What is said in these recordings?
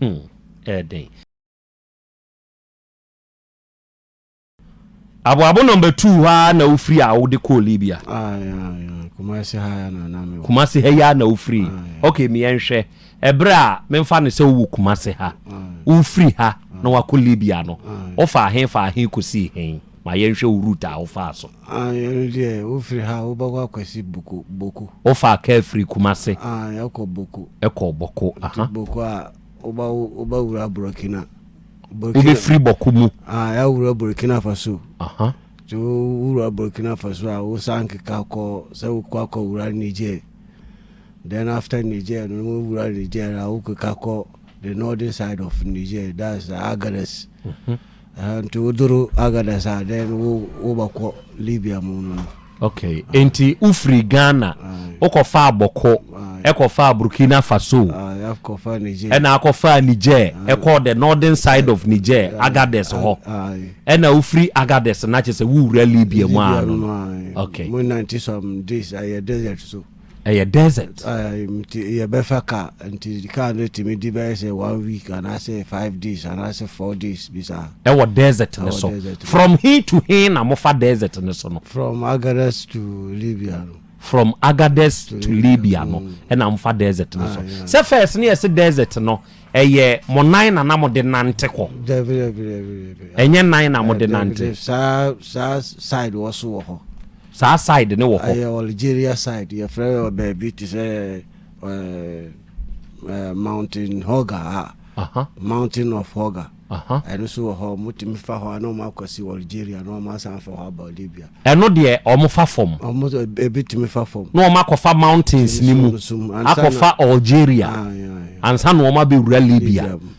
Hum, ɛyɛ den. Aboabo number two hɔ ara na wofiri a wode kɔɔ Libya. Kumasi ha ya na na mi. Kumasi ha ya na wofiri. Okay, mi yɛn hwɛ. Ɛbrɛ a menfa ne sɛ wowɔ Kumasi ha. Wofiri ha na wakɔ Libya no. Wofa ahen fa ahen kɔsii hen? Ma yɛn hwɛ wo route a wofaa so. Aane ɛno deɛ wofiri ha wobɛkɔ akwasi boko boko. Wofaa car firi kumase. Aane ɛkɔ boko. Ɛkɔ boko aha. Nti boko a woba woba wura borɔkina. Borɔkina. Wobɛ firi boko mu. Aane ya wura borɔkina faso. Aha. Nti wo wura borɔkina faso a wo san keka kɔ sɛ wo kɔ akɔ wura niger. Then after niger no wo wura niger a wo keka kɔ the northern side of niger that's agadez. Mm -hmm. Ɛhɛn nti wodur Agadez a then wo wobɔkɔ Libya mu no. Okay, nti wofiri Ghana, wokɔfaa ah. Bɔkɔ, ah, ɛkɔfaa Burkina Faso, ah, ɛna akɔfaa Niger, ɛkɔɔ the northern side of Niger, Agadez hɔ, ɛna wofiri Agadez na kyerɛ sɛ wowura Libya mu ano. Okay. Mo nanti some days ayɛ desert so. ɛyɛ desert. yɛbɛfa ka nti ka no tumi di bɛyɛ sɛ one week anaasɛ five days anaasɛ four days bi saa. ɛwɔ desert no so from he to he na mofa desert no so no. from Agadez to Libya no. from Agadez to Libya no mm. ɛna mofa desert no so sɛ first ne yɛse desert no ɛyɛ mo nan na na mo de nante kɔ. dɛbi dɛbi dɛbi dɛbi. ɛnyɛ nan na mo de nante. saa saa side wɔ so wɔ hɔ. Saa side no wɔ hɔ. Ɛyɛ Algeria side yɛfrɛ baabi te sɛ mountain hoga a mountain of hoga ɛno so wɔ hɔ motumi fa hɔ a na ɔma akɔsi Algeria na ɔma asan fa hɔ aba Libya. Ɛno deɛ ɔmo fa fam. Ɔmo ebi tumi fa fam. Na ɔmo akɔfa mountains ne mu akɔfa Algeria ansa na ɔmo abɛwura Libya.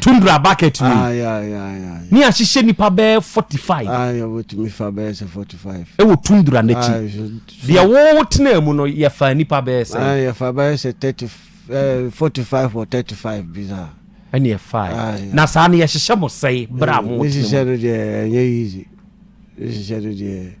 tundra bucket wei ah, ne ahyehyɛ nipa bɛɛ forty five ah, ɛwɔ tundra n'akyi ah, deɛ wɔwɔ tena mu no yɛfa nipa bɛɛ sɛ yɛfa bɛɛ sɛ thirty eh, forty five or thirty five bi saa ɛne ɛfa na saa no yɛhyehyɛ mo sɛe berɛ a mo tena mu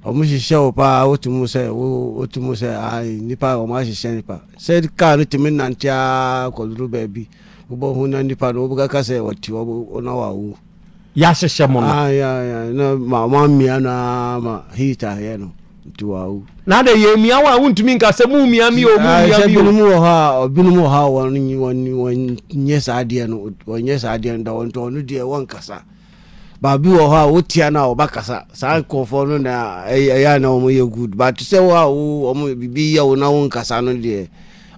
Ɔmo hyehyɛ wo paa wote mu sɛ wo wote mu sɛ ae nipa a ɔmo ahyehyɛ nipa sɛ kaa no tumi nante aa kɔduru baabi wobɔ ho na nipa no wobɛkaka sɛ ɔte ɔmo ɔna wawu Yɛahyehyɛ mo no. ae ae ae na ma ɔmo amia no aa ma heat ayɛ no nti wawu. Na adɛn yɛmia wo a wontumi nka sɛ momia me oo Ae momia sɛ me oo. binom wɔ hɔ a ɔbinom wɔ hɔ a wɔn wɔn wɔn nyɛ saa adeɛ no wɔn nyɛ saa adeɛ no da wɔn nti ɔno deɛ wɔn kasa. But bi wɔ hɔ a wo tia no a ɔba kasa saa nkurɔfoɔ no na ɛyɛ a na wɔn yɛ good but te sɛ wo a wo wɔn bibi yɛ wo na wo nkasa no deɛ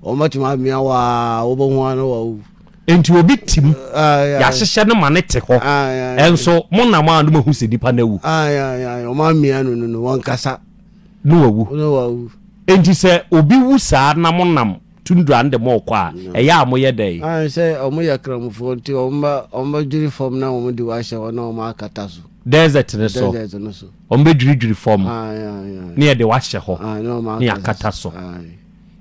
wɔn bɛtumi amia wo a wobɛhu ano wɔ wo. Nti obi tim yɛahyehyɛ no ma ne te hɔ nso mo nam a no mahu sɛ nipa no awu. Wɔn amia no no no wɔn nkasa. No wawu. No wawu. Nti sɛ obi wu saa na mo nam. tundra no de mo rekɔ a, ɛyɛ a moyɛ dɛn? Aane, sɛ wɔyɛ Kramfoɔ nti, wɔbɛdwiri fam na wɔde wo ahyɛ hɔ na wɔakata so. Desert no so. Desert no so. Wɔbɛdwiridwiri fam. Aane, aane, aane. Na yɛde wo ahyɛ hɔ. Aane, na wɔakata so. Na yɛakata so. Aane.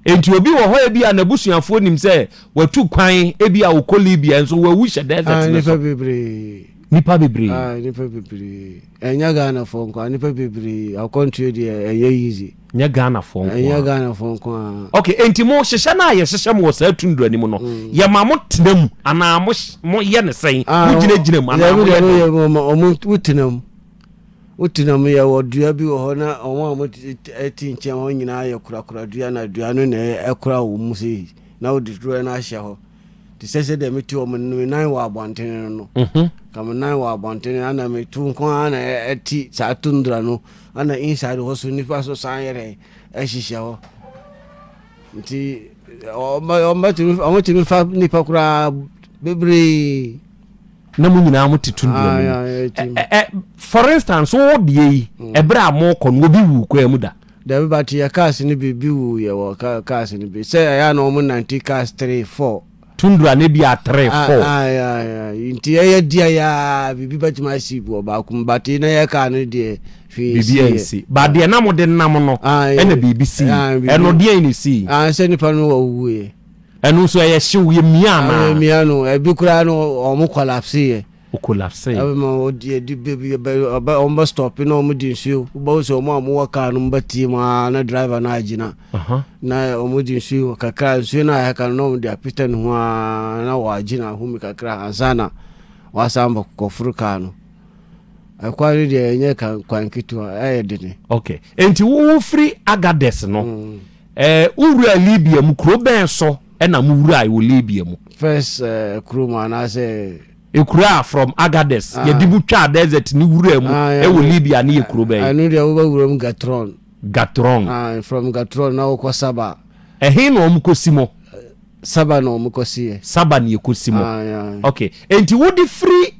Enti obi wɔ hɔ ebi a n'abusuafoɔ nim sɛ watu kwan ebi a ɔkɔ Libya nso wawu hyɛ desert no so. Nipa bebree. Nipa bebree. Nipa bebree. Ɛnyɛ Ghanafoɔ nko a, nipa bebree. Akwantuo deɛ ɛyɛ easy. Nyɛ Ghanafoɔ nko ara. Ɛnyɛ Ghanafoɔ nko ara. Okay, enti mo hyehyɛ no a yɛhyehyɛ mo wɔ saa tundra no mu no, mm. yɛ ma mo tena mu anaa mo mo yɛ ne sɛn? Ah, mo gyina gyina mu anaa mo yɛ ne? Yɛ mo ma mo mo tena mu. Mo tena mu yɛ wɔ dua bi wɔ hɔ na wɔn a mo ti nkyɛn wɔn nyinaa yɛ kurakura dua na dua no na ɛkura wɔn mu sei na wɔde duro no ahyɛ hɔ. te sɛ sɛdeɛ mete hɔ me nan wɔ abɔntene no no mhm. ka me nan wɔ abɔntene ana metu nko ana ɛti saa tundra no ana inside hɔ so nnipa so san yɛ dɛn ɛhyehyɛ hɔ nti ɔmɔtumi fa nnipa koraa bebree na mo nyinaa mo te tundra mu ah, for instance wo deɛ yi mm. ɛberɛ a mokɔ no obi wu koraa mu da Dabi but yɛ cars no bi bi wu yɛ wɔ ka cars no bi sɛ ɛyɛ a na wɔn nante cars three four. Tundra no bi a three Ah four. ah ya ya nti ɛyɛ deɛ yɛ a biribi bɛtumi asi wɔ baako mu but na yɛ car no deɛ hwee Biribi nsi yɛ. ansi. But deɛ na mode nam no Ah yɛ ɛna biribi sii. ah biribi. Ɛno deɛn na ɛsii? Ah sɛ nipa no wɔ wuiɛ. Ɛno nso ɛyɛ hyew yɛ mia Ah yɛ anaa? mia no ɛbi koraa no wɔn collapse yɛ. o collapsee. Ɛbɛma wɔn di adi bɛ bi bɛ ɔbɛ wɔn bɛ stɔpi na wɔn di nsuo wobɛhu sɛ wɔn a wɔn wɔ kaa no mu bɛ tie mu aa na driver no agyina na wɔn di nsuo kakra nsuo no a ɛka no na wɔn de apita ne ho aa na wɔagyina ahumi kakra ansa na wɔasan bɔ kɔforo kaa no ɛkwan no deɛ ɛnyɛ kwan ketewa ɛyɛ dene. ok nti wofiri agades no. Mm. Ɛɛ, wowuraa Libia mu. Kuro bɛn so na mowurae wɔ Libia mu? First kuro mu anaasɛ. Ekuro a from Agadez ah. yɛde bu twaa desert ne wuraa mu ah, ɛwɔ Libya ne yɛ kuro bɛyɛ. Ɛno deɛ wobɛwura mu Gatron. Gatron. Ah, from Gatron na wokɔ Saba. Ɛhe na wɔn kɔ si mo? Saba na wɔn kɔ si yɛ. Saba na yɛ kɔ si mo. Okay, enti wode firi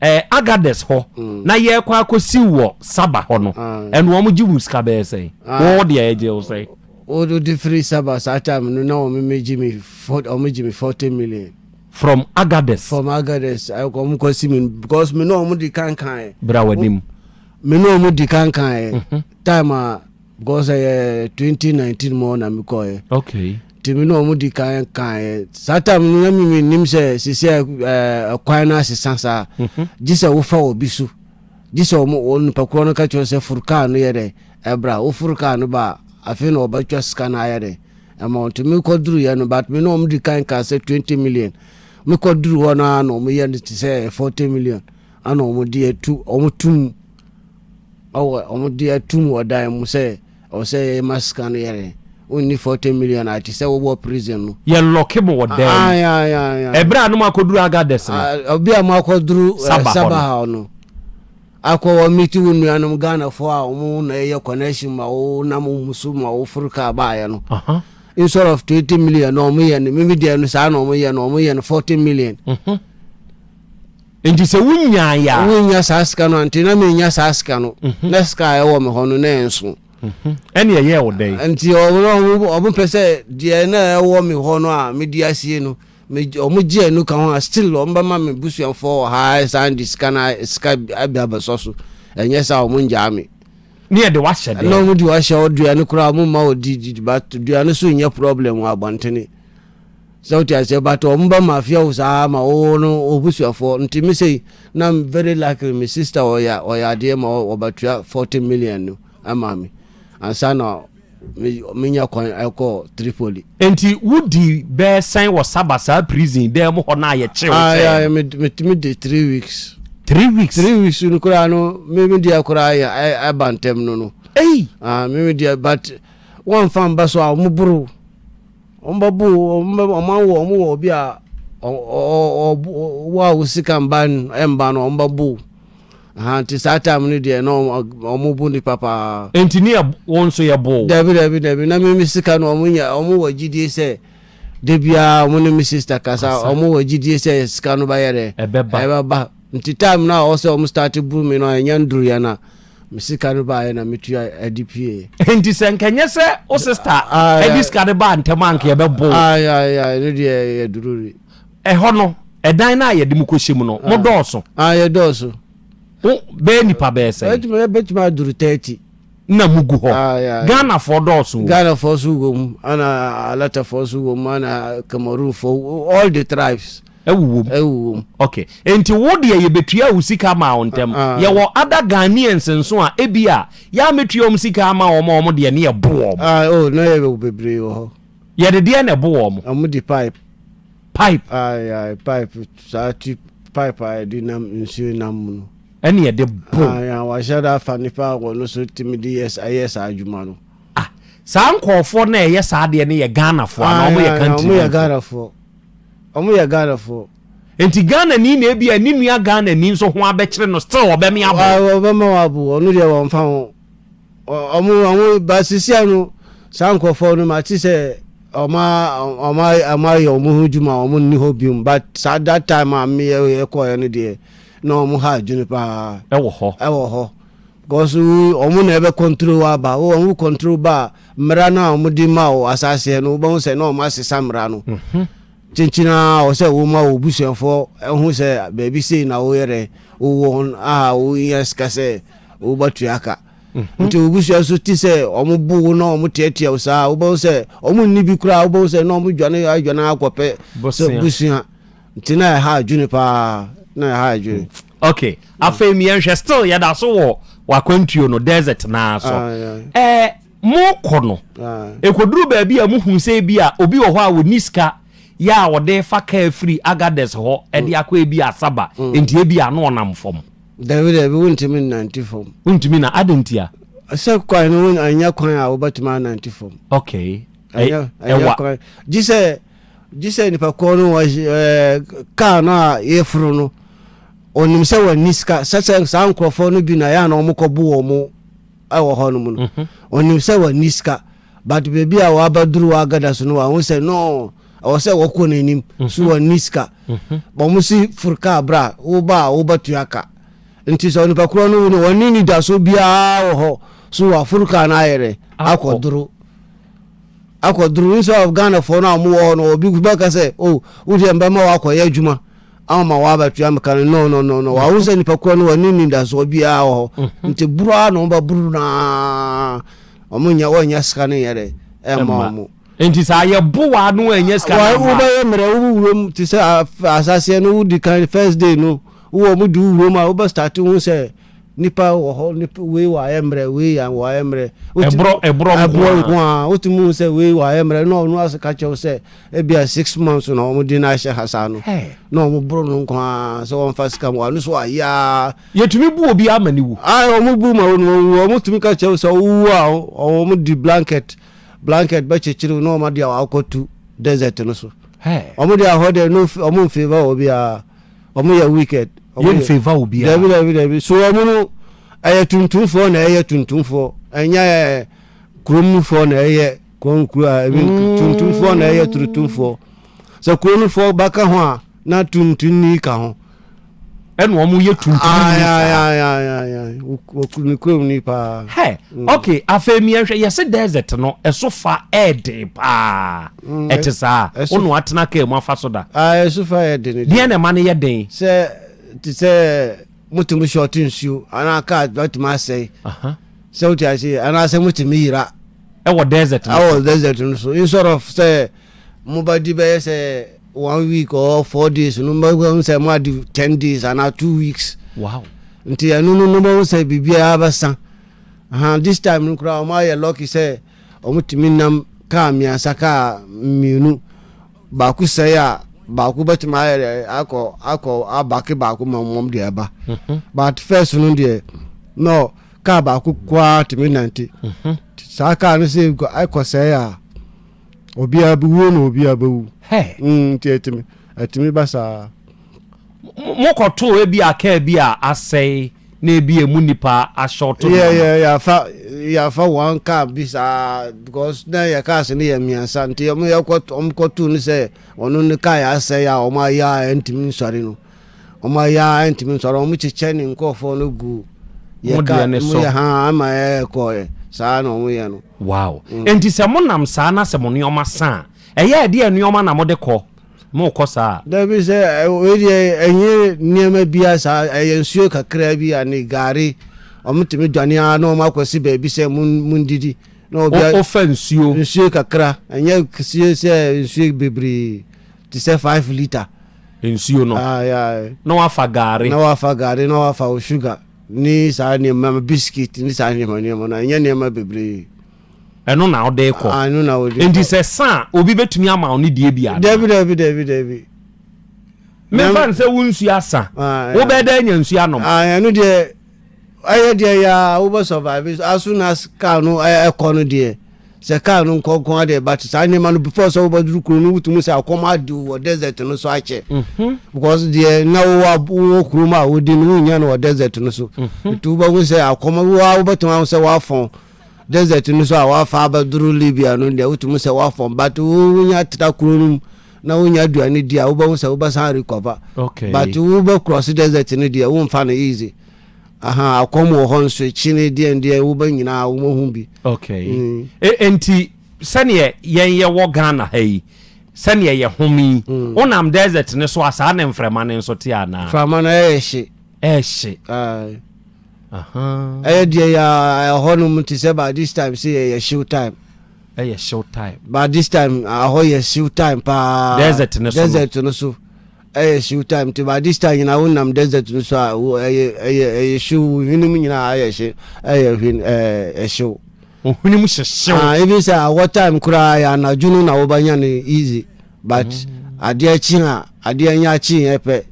Ɛɛ Agades hɔ na yɛrekɔ akɔsiw wɔ Saba hɔ no, ɛno wɔgye wo sika bɛyɛ sɛn? Wo deɛ ɛgye wo sɛn? Wode firi Saba saa time no na wɔgye me wɔgye me forty million. From Agades? From Agades wɔkɔsi me because me ne wɔn di kankan. Bra w'anim. Me ne wɔn di kankan time a. Because ɛyɛ twenty nineteen mu na mi kɔ yɛ. Okay. Nti mi na wɔn di kan kan yɛ. Saa time no na mi mi nim sɛ sisi ɛɛ kwan no asesa saa. Mhm. Gye sɛ wofa wɔ bi so. Gye sɛ wɔn wɔn nipa korɔ no ka kyerɛ sɛ furu kaa no yɛ dɛ ɛbra. Wofuru kaa no ba a afei na wɔbɛtwa sika no ayɛ dɛ ɛma wɔn. Nti mi kɔ duru yɛ no but mi na wɔn di kan kan sɛ twenty million. Mi kɔ duru hɔ no ara na wɔn yɛ no te sɛ ɛyɛ forty million ɛna wɔn de yɛ tu wɔn tu mu. Ɔwɔ wɔn de atum wɔ dan mu sɛ ɔwɔ sɛ yɛ ma sika no yɛre ɔnni forty million a te sɛ wowɔ prison no. Yɛ lɔke mo wɔ dan mu. Ɛberɛ a nom akɔduru Agadez no. Ɛberɛ a mo akɔduru Saba hɔ no. Akɔ wɔ miti wo nuanom Ghana foɔ a wɔn na ɛyɛ connection ma wo nam wɔn so ma wo foro kaa baayɛ no. Instead of twenty million na wɔn yɛ no mimi deɛ no saa na wɔn yɛ no wɔn yɛ no forty million. Enti sɛ wonyaeɛ a. Wonnya saa sika no a, nti na mennya saa sika no, na sika a ɛwɔ me hɔ no, na ɛnso. Ɛnne ɛyɛɛ wo dɛn? Enti wɔpɛ sɛ deɛ na ɛwɔ me hɔ no a medi asie no, wɔgye ɛno ka ho a, still wɔbɛma me busuafoɔ wɔ ha san de sika no sika bi abɛsɔ so. Ɛnyɛ saa a, wɔngyaa me. Ne yɛde wahyɛ dɛn? Na wɔde wahyɛ ɔduane koraa, wɔmma wɔdi, but duane so nyɛ problem wɔ abɔntene. Sɛ wote aseɛ but ɔmo ba ma fear wo saa ma wo wo no wobusuafoɔ nti me sei na very likely me sister ɔya ɔya adeɛ ma ɔba tua 40 million no ɛma me ansa na me me nya kwan ɛkɔ Tripoli. Nti wo di bɛɛ sɛn wɔ Saba saa prison dɛɛ mu hɔ no a yɛ kye wo sɛɛ no. Ae me tumi di three weeks. Three weeks. Three weeks no koraa no me me deɛ koraa yɛ ɛba ntɛm no no. Ei. Ah me me deɛ but wɔn nfa mba so a ɔmo boro. Wɔn ba bu wɔn bɛ wɔn awo wɔn wɔ obi a ɔwɔ a wo sika mba mba no wɔn ba bu ahan ti saa time no deɛ na wɔn bu nipa paa. Nti ni yɛ wɔn nso yɛ bo. Dabi dabi dabi na mi mi sika no wɔn nya wɔn wɔ gyidie sɛ debia wɔn ne mi sista kasa wɔn wɔ gyidie sɛ sika no ba yɛ dɛ ɛbɛ ba nti time no a wɔn sɛ wɔn start bu mi no ɛnyɛ nduru yɛ na. Me sika no baeɛ na metua adi pie. Enti sɛ nka nyɛ sɛ wo sista ɛde sika no baa ntɛm anka yɛbɛbo. Ɛno deɛ yɛ dururi. Ɛhɔ no ɛdan no a yɛde mu kɔhyɛ mu no mo dɔɔso. Yɛ dɔɔso. Bɛyɛ nipa bɛyɛ sɛ. Bɛtumi aduru tɛɛti. Na mo gu hɔ. Ghanafoɔ dɔɔso. Ghanafoɔ so wɔ mu ɛna alatafoɔ so wɔ mu ɛna Cameroonfoɔ all the tribes. Ɛwowom. Ɛwowom. Ok. Enti wo deɛ yɛbɛtua wo sika maa wo ntɛm. Ah, ah. Yɛwɔ other Ghanaians nso a ebi a yɛamɛtua wɔn sika ama wɔn a wɔn deɛ ne yɛbo wɔn. Ah, oh, na yɛwɔ bebree wɔ hɔ. Yɛde deɛ na ɛbo wɔn. Wɔn de pipe. Pipe. Ayi, ah, ayi, pipe saa ti pipe a yɛde nam nsuo nam mu no. Ɛne yɛde bo. Ayi, ah, wahyɛ da afa nipa a wɔn nso tumi de yɛ ayɛ saa adwuma no. Ah, saa nkɔɔfoɔ na ɛyɛ saa deɛ ne yɛ Ghanafoɔ anaa wɔn yɛ country. Wɔn yɛ Ghanafoɔ. Ɔmo yɛ Ghana foɔ. Nti Ghana ni na ebia ne nua Ghana ni nso ho abɛkyere no still ɔbɛme abo. Wɔ ɔbɛma wo abo ɔno deɛ wɔn fa ho ɔmo ɔmo ba sisia no saa nkorɔfoɔ no ma te sɛ ɔmo ɔmo ɔmo ayɛ ɔmo ho dwuma ɔmo nni hɔ biom but saa that time a me yɛ yɛ kɔɔɛ no deɛ na ɔmo ha adwene paa ɛwɔ hɔ ɛwɔ hɔ Cause wo ɔmo na ɛbɛ control wo aba wo ɔmo control ba a mmra no a ɔmo de ma wo asaseɛ no wobɛho sɛ na ɔmo asesa mmra no kyenkyen aa wɔ sɛ wo ma wo busuafoɔ ho sɛ baabi sei na wo yɛrɛ wo wɔ hon a wo nya sika sɛ wo ba tua ka nti wo busua nso ti sɛ ɔmo bo wo na ɔmo tiatia wo saa wobɛho sɛ ɔmo nni bi koraa wobɛho sɛ na ɔmo dwane adwane akɔpɛ sɛ busua Nti na ɛha adwene paa na ɛha adwene. Okay, afei mi yɛn hwɛ still yɛ da so wɔ wakwantuo no desert naa so. Ɛɛ ah, mo kɔ no, ekoduru ah. baabi a mo hu sɛ ebi a obi wɔ hɔ a wɔni sika yɛ a wɔde fa kaa firi agadɛs hɔ ɛde mm. akɔ ebi asaba mm. nti ebi a no ɔnam fam. Dabi dabi wontumi nnante fam. Wontumi na adi nti a. Sɛ kwan no anya kwan a wobɛtumi anante fam. Okay. Ɛyɛ ɛyɛ kwan gye sɛ Gye sɛ nipa korɔ no ɔyɛ car no a yɛforo no, ɔnim sɛ wɔnni sika. Sɛ sɛ saa nkurɔfoɔ no bi na yɛ a na wɔkɔbo wɔn wɔ hɔ nom no, ɔnim mhm. sɛ wɔnni sika. But baabi a wɔabɛduru wɔ agada so no, wɔahu sɛ no, ɛwɔ sɛ wɔkɔ n'anim, mhm. so wɔnni sika. Mhm. Wɔn si foro kaa berɛ a woba a wobatua ka. Nti sɛ onipa korɔ no no wɔnni nidaso biara wɔ hɔ, so wɔaforo kaa no ayɛ dɛ akɔdoro. Akɔduru nso a Ghanafoɔ no a wɔwɔ hɔ no, obi bɛka sɛ, o, wo deɛ mɛma wo akɔyɛ adwuma ama ma woabɛtua me ka no. No, no, no, no. Wahu sɛ nipa kura no wɔne anidasoɔ biara wɔ hɔ. Mm-hmm. Nti boro ara na wɔbɛboro no ara. Wɔnyɛ, wɔnyɛ sika no nyɛ dɛ ɛmma wɔn. Nti saa yɛbo wa no ɛnyɛ sika no ama. Wobɛyɛ mmerɛ wo wurom te sɛ asaseɛ no wodi kan first day no wowɔ mu di wurom a wobɛstate ho sɛ Nipa wɔ hɔ, nipa wei wɔ ayɛ mmerɛ, wei yan wɔ ayɛ mmerɛ. Ɛborɔ ɛborɔ ɛborɔ nko ara. Wotumi hu sɛ wei wɔ ayɛ mmerɛ na ɔno ase ka kyɛw sɛ ebi a six months na wɔn de no ahyɛ ha saa no. Na wɔn boro no nko ara sɛ wɔn fa sika mu ano so ayɛ aa. Yɛtumi bu obi ama ne wu. Ayi wɔn bu ma wɔn wɔn wu wɔn tumi ka kyɛw sɛ ɔwu a wɔn di blanket blanket bɛkyekyere na wɔn adi a wɔakɔtu desert no so. Wɔn de ahɔ deɛ no wɔn nfeeva wɔ biara. wɔn yɛ wicked. Yɛ nfɛ va wo bia. Dabi dabi dabi so wɔn no ɛyɛ tuntumfoɔ na ɛyɛ tuntumfoɔ ɛnyɛ kurom nufoɔ na ɛyɛ kɔn kuro a ebi mm. tuntumfoɔ na ɛyɛ tuntumfoɔ sɛ kuro nufoɔ ba ka ho a na tuntumni ka ho. ɛna wɔn yɛ tuntumni saa. wɔkuru kurom ni paa. hɛ mm. ok afei miɛnhwɛ yɛsi desert no ɛso fa ɛɛden paa. Ɛte saa. Wo na watena kaa mu afa so da. Ɛso fa yɛ den. Deɛ na ɛma no yɛ den. Sɛ te sɛ motumi sɔɔte nsuo anaa kaa bɛtumi asɛe. Sɛ wote ase anaasɛ motumi yira. Ɛwɔ desert no so. Ɛwɔ desert no so. Instead of sɛ mobɛdi bɛyɛ sɛ one week or four days no mobɛhu sɛ moadi ten days anaa two weeks. Wow. Nti ɛno no no mobɛhu sɛ biribiara bɛsa. This time no koraa wɔayɛ lucky sɛ. Wɔtumi nam kaa mmiɛnsa, kaa mmienu, baako sɛe a baako bɛtumi ayɛ dɛ akɔ akɔ abake baako ma wɔn deɛ ɛba mhm. but first no deɛ na kaa baako koraa tumi nante mhm. saa kaa no sɛ ɛkɔ sɛe a obiara bi wuo na obiara bɛwu mm, nti ɛtumi ɛtumi ba saa. mokɔtoo ebi a kaa bi a asɛe na ebi a emu nipa ahyɛwto no yeah, yeah, yɛafa yɛafa wɔn kaa bi saa because na yɛ kaa se no yɛ mmiɛnsa nti wɔn yɛkɔto wɔn kɔtoo no sɛ ɔno ne kaa yɛ asɛe a wɔn ayɛ a ɛntumi nsɔre no wɔn ayɛ a ɛntumi nsɔre wɔn kyekyɛ ne nkurɔfoɔ no gu yɛ kaa mu yɛ ha ama ɛkɔɛ saa na wɔn yɛ no. wow mm. nti sɛ mo nam saa na sɛ mo nneɛma san ɛyɛ ɛdeɛ nneɛma na mo de kɔ. Morekɔ saa a. Dabi sɛ wei deɛ ɛnyɛ nneɛma biaa saa ɛyɛ nsuo kakraa bi ane gari ɔmo tumi dwane ara na ɔmo akɔsi baabi sɛ mondidi na obia Wofa nsuo. nsuo kakra ɛnyɛ ksie sɛ nsuo bebree te sɛ five litre nsuo no ah yeah na wafa gari. na wafa gari na wafa wo sugar ne saa nneɛma biscuit ne saa nneɛma nneɛma no ɛnyɛ nneɛma bebree. Ɛno na wode rekɔ. Ah, ɛno na wode rekɔ. Enti sɛ sa a, obi bɛtumi ama wo ne deɛ bi ada. Dabi, dabi, dabi, dabi. Memfa ne sɛ wo nsuo asa. Ah, Wobɛyɛ dɛ anya nsuo anom. Ah, ɛno deɛ, ɛyɛ deɛ yɛ a wobɛ survive. As soon as car no ɛkɔ no deɛ, sɛ car no nkɔnkɔn adeɛ ba te saa nneɛma no before sɛ wobɛduru kuro no wotumi sɛ akɔm ade wɔ desert no so akyɛ. Mhm. Because deɛ na wowɔ wowɔ kurom a wodi no wonnya no wɔ desert no so. Mhm. Nti wobɛhu sɛ akɔm wowɔ wobɛtumi ahu sɛ woafɔn. desert no so a wafa abɛduru libya no deɛ wotumi sɛ woafɔm but wonya tra kuro no mu na wonya aduane di a wobɛhu sɛ wobɛsan recover okay. but wobɛcross desert no deɛ womfa no easy aha akɔm wɔ hɔ nso akyi ne deɛn deɛn wobɛ nyinaa wobɛhu bi okay. mm. e, enti sɛneɛ yɛn yɛwɔ ghana ha yi sɛneɛ yɛ home yi mm. wonam desert no so a saa ne mframa no nso te anaa mframa no ɛyɛ hye ɛhye Ɛyɛ deɛ yɛ ɛhɔ nom te sɛ by this time sɛ yɛyɛ hyew time. Ɛyɛ hyew time. By this time ɛhɔ yɛ hyew time paa. Desert no so. Desert no so. Ɛyɛ hyew time nti by this time nyinaa wonam desert no so a ɛyɛ ɛyɛ ɛyɛ hyew hwenem nyinaa ayɛ hye ɛyɛ hwen ɛɛ ɛhyew. Ohwenem hyɛ hyew. Ah ebi sɛ awɔ time koraa yɛ anadwo no na wɔbɛnya no easy but mm. adeɛ kye a adeɛ nyɛ akye yɛ pɛ.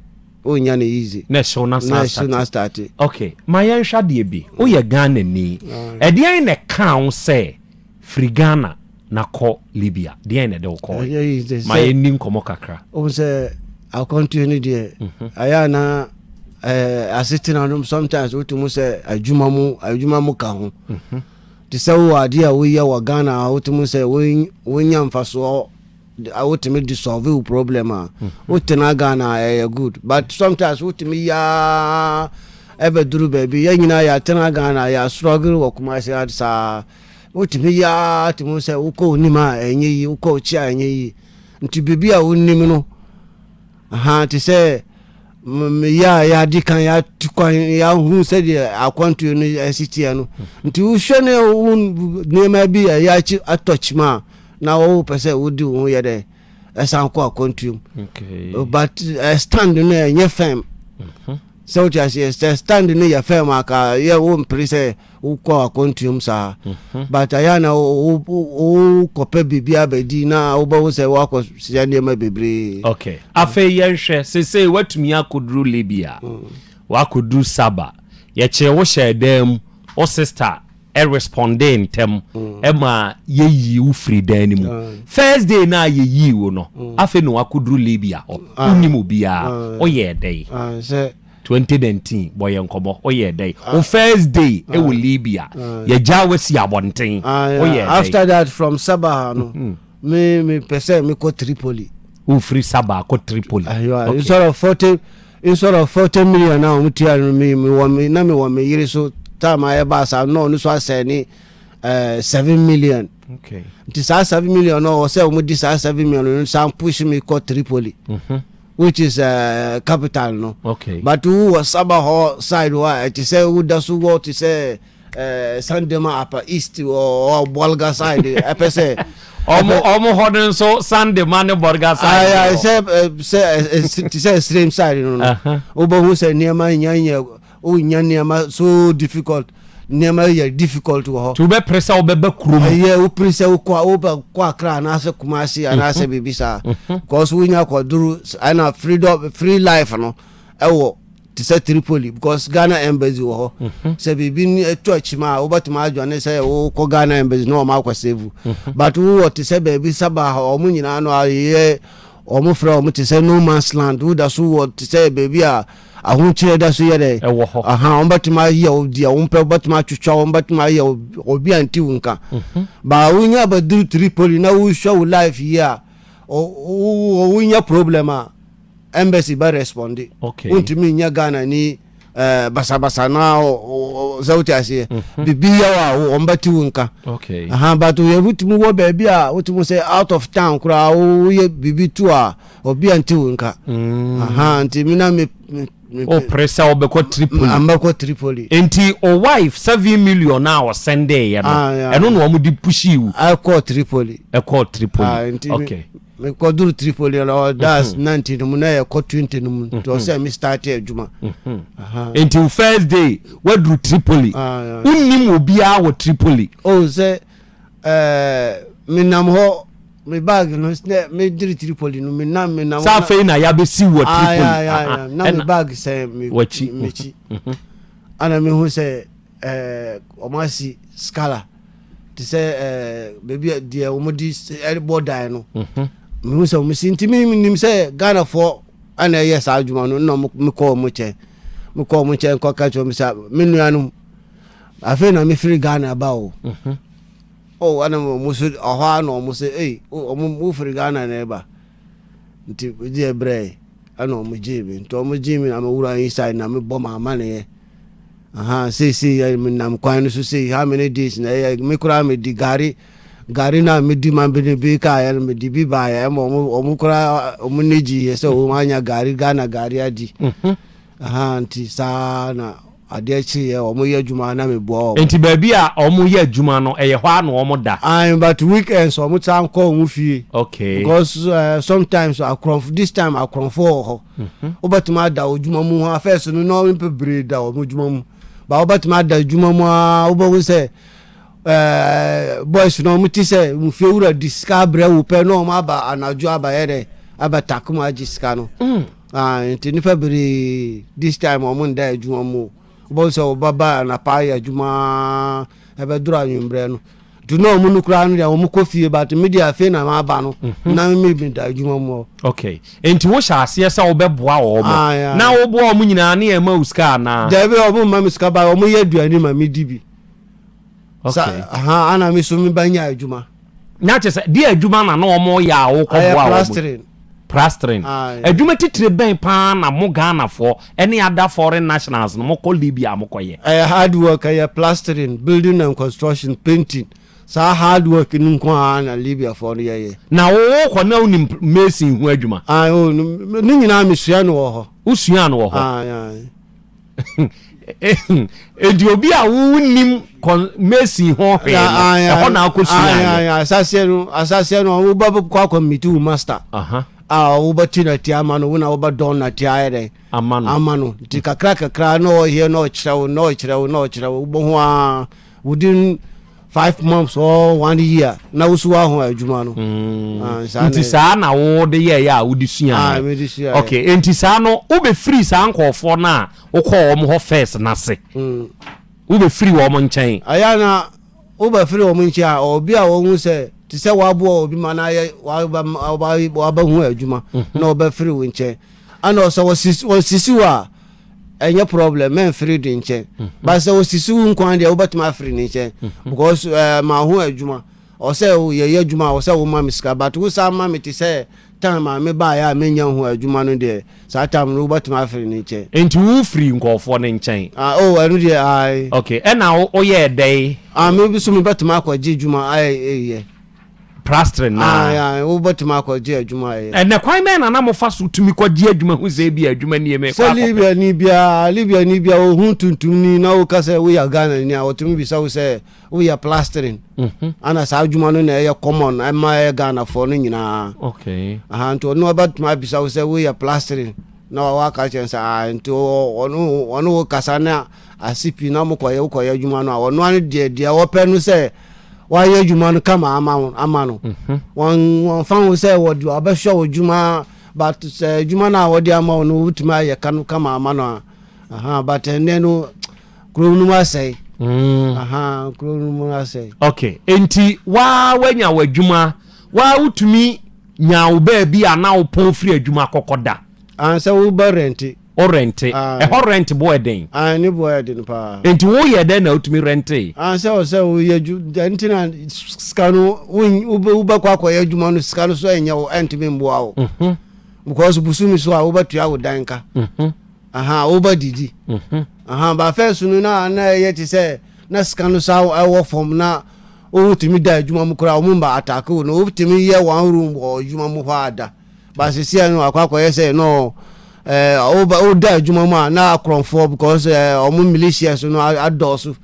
ɔnnya no easy na ɛhyew no asan ɛhyew no astate. ok ma yɛnhwɛ adeɛ bi woyɛ Ghanani ɛdeɛn na ɛkaa wo sɛ firi Ghana na kɔ Libya deɛn na ɛde wo kɔɔe ma yɛnni nkɔmmɔ kakra wohu sɛ akwantuo no deɛ mhm. ɛyɛ a na asetena no sometimes wotumi sɛ adwuma mu adwuma mu ka ho mhm. te sɛ wowɔ adeɛ a woyɛ wɔ Ghana a wotumi sɛ wonya mfasoɔ Wotumi de solve wo problem a wotena Ghana a ɛyɛ good but sometimes wotumi yɛ ara ɛbɛduru baabi yɛn nyinaa yɛatena Ghana yɛastruggle wɔ Kumasi ha saa wotumi yɛ ara te mu sɛ wokɔ onim a ɛnyɛ yi wokɔ okyi a ɛnyɛ yi nti biribi a wonim no ha te sɛ yɛ a yɛadi kan yɛatu kwan yɛahu sɛdeɛ akwantuo no ɛsi teɛ no nti wohwɛ ne wo nneɛma bi a yɛakyi atɔkyima a na wo pɛ sɛ wodi wo ho yɛ dɛ ɛsan kɔ akwantuom but uh, stand no ɛnyɛ fɛm mhm. sɛ wote aseɛ sɛ stand no yɛ fɛm aka yɛ wo mpere sɛ wokɔ akwantuom saa mhm. but ayɛ na wokɔpɛ biribi abɛdi na wobɛwo sɛ woakɔ sɛ nneɛma bebree okay. afei yɛnhwɛ sesei woatumi akɔduru libya mm. woakɔduru saba yɛkyee wo hyɛɛ dan mu wo sister ɛ respondee ntɛm ma yɛ yii wo firi dan no mu first day no a yɛ yii wo no afei na wakɔduru Libya hɔ wonim obiara woyɛɛ dɛn 2019 bɔ yɛ nkɔmmɔ woyɛɛ dɛn wo first day wɔ Libya yɛgyaa wasi abɔnten woyɛɛ dɛn after that from Sabah no me mepɛ sɛ mekɔ Tripoli wofiri Sabah kɔ Tripoli instead of 40 Instead of forty million na wɔn tua no mi mi wɔ mi na mi wɔ mi yere so time a ɛba asa na ɔno so asɛ ne ɛɛ eh, seven million. Okay. Nti saa seven million no wɔ sɛ wɔn di saa seven million no san push mi kɔ Tripoli. Mm -hmm. Which is uh, capital no. Okay. But wo wɔ Saba hɔ side hɔ a ɛte sɛ wo da so wɔ te sɛ. Eh, Sandema Upper East or Bolga side. I eh, say. Omo hɔ no nso Sandema ne Bolga side. Ayi sɛ sɛ ti sɛ stream side no no. Wobɛhu sɛ nneɛma nya nya wonya nneɛma so difficult nneɛma yɛ difficult wɔ hɔ. Tí o bɛ pere sɛ o bɛ bɛ kurom. Ɛyɛ o pere sɛ o kɔ o bɛ kɔ Accra anaasɛ Kumasi anaasɛ biribi saa. Kɔsu wonya kɔ duru ɛna freedom free life no ɛwɔ. te sɛ Tripoli because Ghana embassy wɔ hɔ sɛ biribi ni ɛtɔ akyim a wobɛtumi adwane sɛ wokɔ Ghana embassy na wɔn akɔ save but wowɔ te sɛ baabi Sabah hɔ wɔn nyinaa no ayɛ wɔn frɛ wɔn te sɛ no man's land woda so wɔ te sɛ baabi a ahokyerɛ da so yɛ dɛ ɛwɔ hɔ aha wɔn bɛtumi ayɛ wo deɛ wɔn pɛ bɛtumi atwitwa wɔn bɛtumi ayɛ obi a nti wo nka ba wonya abɛduru Tripoli na wohwɛ wo life yi a wonya problem a Embassy bɛ responde. Okay. Wontumi nyɛ Ghana ni eh, basabasa na sɛ wote aseɛ. Mhm. Bibi yaw a wɔn bɛte wo nka. Okay. Aha but yɛ wotumi wɔ baabi a wotumi sɛ out of town koraa woyɛ bibi tu a obi a nte wo nka. Mm. Aha nti mi na mi o pere sɛ ɔbɛkɔ Tripoli. Ambɛkɔ Tripoli. Nti o wife seven million na ɔsɛn dɛ yɛ no. Ah, ɛno na wɔn de pushi wu. Ɛkɔ Tripoli. Ɛkɔ Tripoli. Ah, okay. mekɔduru tripoli no that's mhm. ninety no mu na yɛkɔ twenty no mu nti mhm. ɔsɛ me start adwuma mhm. nti first day waduru tripoli ah, wonnim obiara wɔ tripoli o oh, sɛ eh, menam hɔ me bag no sɛ meduru tripoli no menam menam sɛ afei na yɛabɛsi wɔ ah, tripoli ah, na me bag sɛ mekyi ana mehu sɛ Ɛɛ, wɔasi skala te sɛ ɛɛ baabi a deɛ wɔde ɛbɔ dan no. Mhm. Mehu sɛ wɔsi nti menim sɛ Ghanafoɔ ɛna ɛyɛ saa adwuma no na mekɔ wɔn nkyɛn. Mekɔ wɔn nkyɛn kɔka kyerɛ wɔn sɛ me nuanom afei na mefiri Ghana ba o. Mhm. Oh, ɛna wɔn so ɔhɔ ara na wɔn sɛ ei, wɔn oh, mofiri Ghana na ɛba. Nti megyeɛ brɛɛe ɛna ɔmo gyee me nti ɔmo gyee me na me wura inside na me bɔ m'amaneɛ ahaa seesei yɛ me nam kwan no so sei how many days na ɛyɛ me koraa me di gari gari na me di ma bene bi kaa yɛ no me di bi baayɛ ɛma ɔmo ɔmo koraa ɔmo ne gyi yɛ sɛ ɔmo anya gari Ghana gari adi. Mm -hmm. Ahaa nti saa na adeɛ kyeeɛ wɔn yɛ adwuma na me boa wɔn. Nti baabi a wɔn yɛ adwuma no ɛyɛ hɔ a na wɔn da. Ae but week ends wɔn san kɔ wɔn fie. Okay. Because ɛɛ sometimes akorɔnfo this time akorɔnfo wɔ hɔ. Wobɛtumi ada wɔ adwuma mu haa first no na wɔn bebree da wɔn adwuma mu but wobɛtumi ada adwuma mu aa wobɛhu sɛ ɛɛ boys no wɔn ti sɛ nfie wura di sika abrɛ wo pɛ na wɔn aba anadwo aba yɛ dɛ aba take mu agye sika no. Ae, nti nnipa bebree this time wɔn nda adwuma mu. Wobɛhu sɛ wɔbɛba anapa ayɛ adwuma ɛbɛdoro anwummerɛ no. Nti na wɔn no koraa no deɛ wɔn kɔ fie but me deɛ afei na maba no mhm. na me bi da adwuma mu hɔ. Okay, nti wohyɛ aseɛ sɛ wobɛboa wɔn ah, na woboa wɔn nyinaa ne ɛma wo sika anaa? Daabi wɔn mma me sika ba wɔn yɛ aduane ma me di bi. Okay. Sa, aha, ana me so mebɛnya adwuma. na kyerɛ sɛ deɛ adwuma na na wɔn yɛ a wɔkɔboa wɔn plastering adwuma titire bɛn paa na mo ghanafoɔ ɛne ada foreign nationals no mokɔ libya a mokɔyɛ ɛyɛ hard work ɛyɛ plastering building and construction painting saa hard work no nko ara na libyafoɔ no yɛyɛ na wɔwɔ kɔ na wonim mason ho adwuma ne nyinaa mesua no wɔ hɔ wosua no wɔ hɔ edi obi a wonnim mason hɔ hwee no ɛhɔ na akɔ sua yɛ asaseɛ no asaseɛ no woba kɔ akɔ miti wo master a woba ti na ti ama no wona woba dɔn na ti ayɛ dɛ ama no ama no nti kakra kakra na ɔyɛ na ɔkyerɛ wo na ɔkyerɛ wo na ɔkyerɛ wo wobɔ ho a within five months or one year na wosi wa ho adwuma no. Mm. Ah, nti saa na wode yɛɛyɛ a wode sua ah, no okay nti saa no wobɛfiri saa nkɔɔfoɔ no a wokɔɔ wɔn hɔ first no ase mm. wobɛfiri wɔn nkyɛn ɛyɛ na wobɛfiri wɔn nkyɛn a obi a wɔhu sɛ te sɛ waboa obi ma no ayɛ wabɛhu adwuma mhm. na wɔbɛfiri wo nkyɛn ana ɔsɛ wɔsisi wo a ɛnyɛ problem mɛmfiri de nkyɛn hmm. ba sɛ ɔsisi wo nkwan deɛ wobɛtumi afiri ne nkyɛn hmm. because eh, ma ho adwuma ɔsɛ yɛyɛ adwuma a ɔsɛ woma me sika but wo saa ma me te sɛ time a mebaeɛ a menya ho adwuma no deɛ saa time no wobɛtumi afiri ne nkyɛn enti wofiri nkɔɔfoɔ no nkyɛn ah, o oh, ɛno deɛ ae ok ɛna woyɛɛ dɛn ah, me bi so mebɛtumi akɔgye adwuma ayɛ plastering na. Ah, ya, wobɛtumi akɔgye adwuma ayɛ. Ɛnɛ kwan bɛn na na mofa so tumi kɔgye adwuma hu sɛ ebi adwuma nie mekɔ akɔpɛ? Sɛ Libyani biara, Libyani biara ohun tuntumni na woka sɛ woyɛ Ghanani a, wɔtumi bisa wo sɛ woyɛ plastering. Mhm. Ana saa adwuma no na ɛyɛ common ɛma ɛyɛ Ghanafoɔ no nyinaa. Okay. Aha, nti ɔno ɔbɛtumi abisa wo sɛ woyɛ plastering na wawɔ aka kyɛn sɛ ah, nti ɔno ɔno wo kasa na ase pii na mokɔyɛ wokɔyɛ adwuma no a ɔno ano deɛ deɛ wɔpɛ no sɛ wayɛ adwuma no kama ama wo ama no mhm. wɔn wɔn fa ho sɛ wɔde ɔbɛhwɛ wo adwuma but sɛ adwuma no a wɔde ama wo no wotumi ayɛ ka no kama ama no a aha but ɛnɛ no kuro no mu asɛe mm. aha kuro no mu asɛe okay enti waa wanya w'adwuma waa wotumi nya wo baabi a na wopɔn firi adwuma kɔkɔ da ansɛ wobɛ rɛnte Wo rɛnte. Ɛhɔ rɛnte bo yɛ den. Ae ne bo yɛ den paa. Nti wo yɛ dɛn na wo tumi rɛntee? Ae sɛ wo sɛ wo yɛ adwu dɛn nti na sika no wo bɛ kɔ akɔ yɛ adwuma no sika no so ɛnyɛ wo ɛntumi mboa wo. Mhm. Because busumi so a wo bɛ tua wo dan ka. Mhm. Aha wo bɛ didi. Mhm. Aha ba fɛ so no na na ɛyɛ te sɛ na sika no sa ɛwɔ fam na wo tumi da adwuma mu kora wo mba atake wo no wo tumi yɛ one room wɔ adwuma mu hɔ ada. But sisia no akɔ akɔyɛ sɛ no eh, woba woda adwuma mu a na akorɔmfoɔ because eh, ɔmo militias no adɔɔso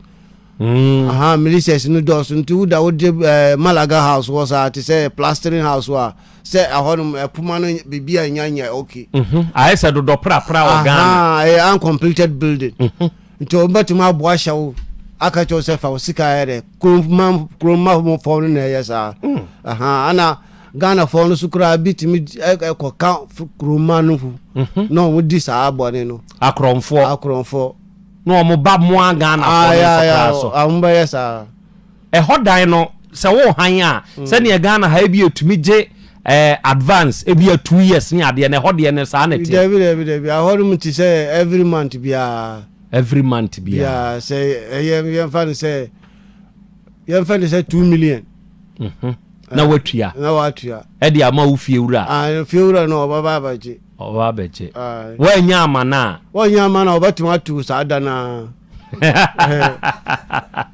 mm. aha militias no dɔɔso nti woda wode eh, malaga house hɔ saa te sɛ plastering house a sɛ ɛhɔnom ɛpoma no biribi a nya nya okay mhm. ayɛ sɛ dodɔ prapra wɔ ghana ɛyɛ eh, uncompleted building mhm. nti wɔbɛtumi aboa hyɛ wo aka kyɛw sɛ fa wo sika yɛ dɛ kuroma kuroma fɔm no na ɛyɛ saa mm. aha ana Ghanafoɔ no so koraa bi tumi kɔka kuroma no ho mhm. na wɔn di saa bɔne no. akorɔmfoɔ akorɔmfoɔ na wɔn ba mmoa Ghanafoɔ no so koraa so. wɔn bɛyɛ saa. ɛhɔ dan no sɛ wɔrehan a mm. sɛdeɛ Ghana ha ebi etumi gye ɛɛ eh, advance ebi yɛ two years ne adeɛ na ɛhɔ deɛ no saa na ɛte. dabi dabi dabi ahɔ nom ti sɛ every month biara. every month biara. sɛ ɛyɛ yɛn fa no sɛ yɛn fa no sɛ two million. Mm -hmm. na watua na watua ɛde ama wo fiewura a ah, fiewura no ɔbɛba abɛgye ɔbɛba abɛgye woanya amana a woanya amana a ɔbɛtumi ato saa da no a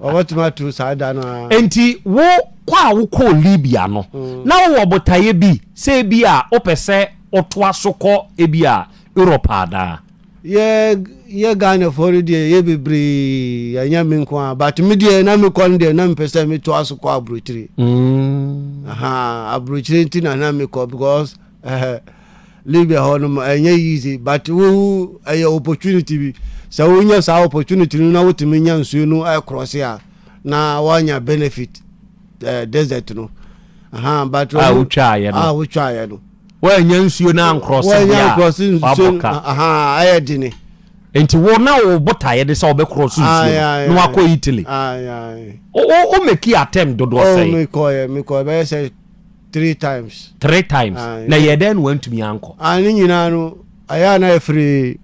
ɔbɛtumi ato saa da no a enti wo kɔ a wokɔɔ libya no mm. na wowɔ botaeɛ bi sɛ bi a wopɛ sɛ wotoa so kɔ ebi a europe adaa Yɛ yɛ Ghanafoɔ no deɛ yɛ bebree ɛnyɛ me nko a but me deɛ na mekɔ no deɛ na mepɛ sɛ metoa so kɔ aburokyire mm. aburokyire nti na na mekɔ because uh, Libya hɔ no ɛnyɛ easy but wo ɛyɛ opportunity bi sɛ wonya saa opportunity no na wotumi nya nsuo no ɛkorɔse a na woanya benefit uh, desert no uh, but wotwaeɛ no, ah, no. Woannya nsuo no ankorɔse deɛ a wabɔ ka. Ɛyɛ dene. Nti wo na wo botaeɛ ne sɛ wobɛkorɔ so nsuo no na wakɔ Italy. Wo meki attempt dodoɔ oh, sɛn? Mekɔɛ mekɔɛ bɛyɛ sɛ three times. Three times. Na yɛ dɛn na wantumi ankɔ? Ne nyinaa no ɛyɛ a na ɛfiri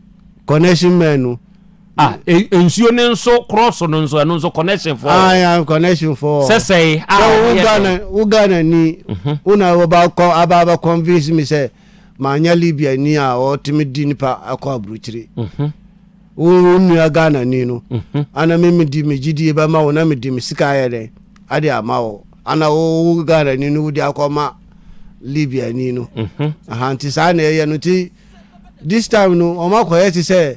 connection man no. Ah, e, nsuo no nso krɔso no nso ɛno nso connection fɔ. Ah, ya connection fɔ. Sɛsɛe a wo Ghana wo Ghana ni. Mhm. Wo na wo ba kɔ aba ba convince me sɛ ma nya Libya ni a ɔtumi di nipa akɔ aburukyire. Mhm. Wo nua Ghana ni no. Mhm. Ana me me di me gidie ba ma wo na me di me sika ayɛ dɛ. Ade ama wo. Ana wo wo Ghana ni no wo di akɔ ma Libya ni no. Mhm. Aha nti saa na ɛyɛ no nti this time no ɔmakɔyɛ te sɛ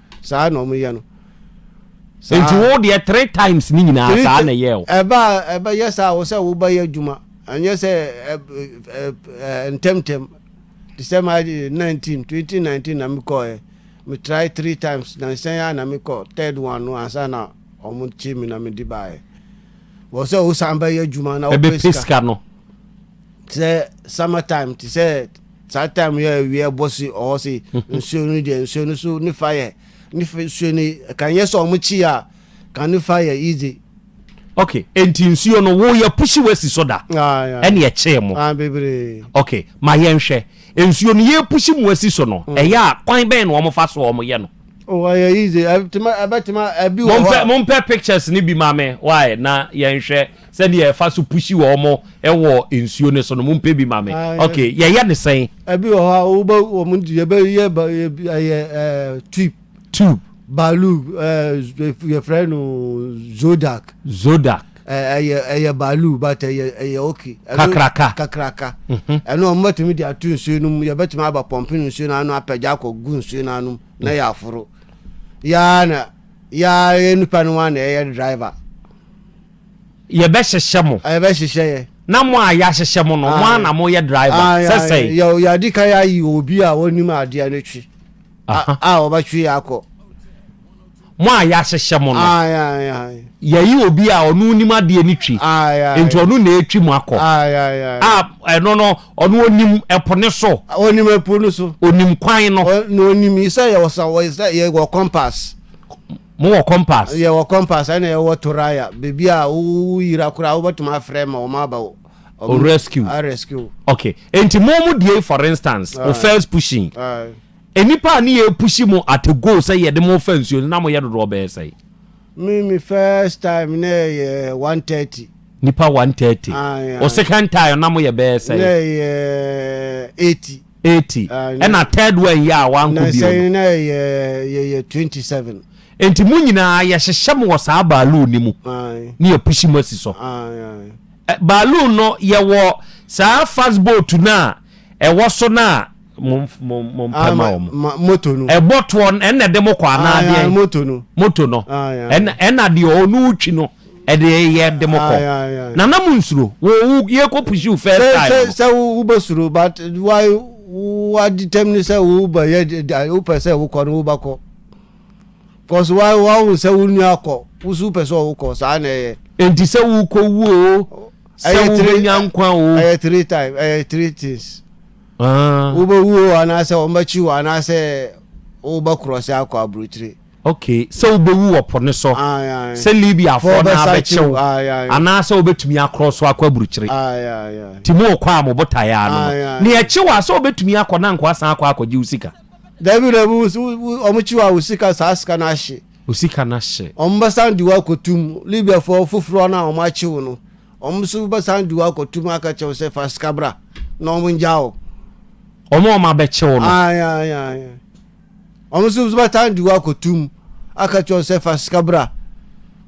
saa na ɔmo yɛ no. Nti wo deɛ three times ne nyinaa saa na ɛyɛɛ wo? Ɛba a ɛbɛyɛ saa a wo sɛ woba yɛ adwuma ɛnyɛ sɛ ntɛm ntɛm te sɛ ma nineteen twenty nineteen na me kɔɛ me try three times na nsɛn a na me kɔ third one no ansa na ɔmo kye me na me de baɛ wɔ sɛ wo san bɛyɛ adwuma na wopɛ sika no. te sɛ summer time te sɛ saa time yɛ awia bɔ si ɔhɔ si nsuo no deɛ nsuo no so ne fa yɛ ne fa nsuo no kan yɛ sɛ ɔmo kyi a kan ne fa yɛ easy. ok nti nsuo no wo yɛ pusi wasi so da ɛne ɛkyee mo bebree ok ma yɛnhwɛ nsuo no yɛ pusi mu asi so no ɛyɛ a kwan bɛn na ɔmo fa so ɔmo yɛ no. ɔyɛ easy ɛbɛtuma ɛbi wɔ hɔ a. mompɛ pictures ne bi ma me wae na yɛnhwɛ. Sɛdeɛ ɛfa so pushi wɔ ɔmo ɛwɔ nsuo no so no mo mpɛ bi ma me ok yɛyɛ ne sɛn. Ɛbi wɔ hɔ a wobɛ wɔn di yɛbɛ yɛ ba ɛyɛ ɛɛ tube. Tube. Baalu ɛɛ yɛfrɛ no zodak. Zodak. Ɛyɛ ɛyɛ baalu but ɛyɛ ɛyɛ ok. Kakraka. Kakraka. Ɛno wɔn bɛtumi de ato nsuo no mu yɛbɛtumi aba pɔmpi no nsuo no ano apɛgya akɔ gu nsuo no ano na yɛ aforo yaa na yaa yɛ nipa no wa na ɛyɛ driver. Yɛbɛhyehyɛ mo. Yɛbɛhyehyɛ yɛ. Na mo a yɛahyehyɛ mo no, mo ara na moyɛ driver. Sɛ sɛn? Yɛadi kan ayi obi a ɔnim adeɛ no twi a ɔbɛtwe yɛ akɔ. Mo a yɛahyehyɛ mo no, yɛyi obi a ɔno nim adeɛ no twi, nti ɔno na ɛtwi mo akɔ. A ɛno no, ɔno ɔnim ɛpo no so. Ɔnim ɛpo no so. Ɔnim kwan no. Na ɔnim sɛ yɛwɔ sɛ yɛwɔ compass. Mo wɔ kɔmpas? Yɛwɔ kɔmpas, ɛna yɛwɔ toraya, baabi a wo wo yira koraa wobɛtumi afrɛ ma wɔn aba wo O rescue wo. rescue wo. Okay, enti mo mo deɛ yi for instance, wo first pushing, nnipa a ne yɛ pushi mo at a goal sɛ yɛde mo fa nsuo no na mo yɛ dodoɔ bɛyɛ sɛn? Me me first time na ɛyɛ one thirty. Nnipa one thirty. Aye aye. Wo second time na mo yɛ bɛyɛ sɛn? Na ɛyɛ eighty. eighty ɛna third one yi a wankɔ bio no. nansa yi na yɛ yɛ yɛ twenty seven. nti mu nyinaa yɛhyehyɛ mu wɔ saa baaluu ni mu ne yɛ pusi mu asi so baaluu no yɛwɔ saa fast boat no a ɛwɔ so no a mompɛ ma wɔn moto no ɛbɔ toɔ ɛna ɛde mo kɔ anaa deɛ moto no moto no ɛna deɛ ɔno twi no Ɛdeɛ yɛ de mo kɔ. Nana mo nsuro. Wo wo yɛ kɔ push you first time. Sɛ sɛ sɛ wo bɛ suro but why wa determine sɛ wo bɛ yɛ wo pɛ sɛ wo kɔ no wo ba kɔ. Cause why wa wo sɛ wo nua kɔ wo so pɛ sɛ wo kɔ saa na ɛyɛ. Enti sɛ wo kɔ wu o. Sɛ wo bɛ nya nkwa o. Ɛyɛ three time ɛyɛ three things. Wo bɛ wu o anaasɛ wɔn bɛ kyi wo anaasɛ wo bɛ cross akɔ aburukyire. Ok, sɛ wobɛwu wɔ po no so, sɛ Libiafoɔ no ara bɛkye wo, anaa sɛ wobɛtumi akorɔ so akɔ aburukyire. Nti morekɔ a mo botaeɛ ara no no. Na yɛkye wo a, sɛ wobɛtumi akɔ na anka woasan akɔ akɔgye wo sika? Dabi, dabi, wo, wo, wɔkye wo a, wo sika, saa sika no ahye. Wo sika no ahye. Wɔbɛsan de wo akɔto mu. Libiafoɔ foforɔ no a wɔakye wo no, wɔn nso bɛsan de wo akɔto mu aka kyerɛ wo sɛ fa sika bra, na wɔngyaa wo. Wɔn a wɔabɛkye wo no. Ae, ae, ae. Wɔn nso bɛtaa de wo akɔto mu aka kyerɛ wo sɛ fa sika bra.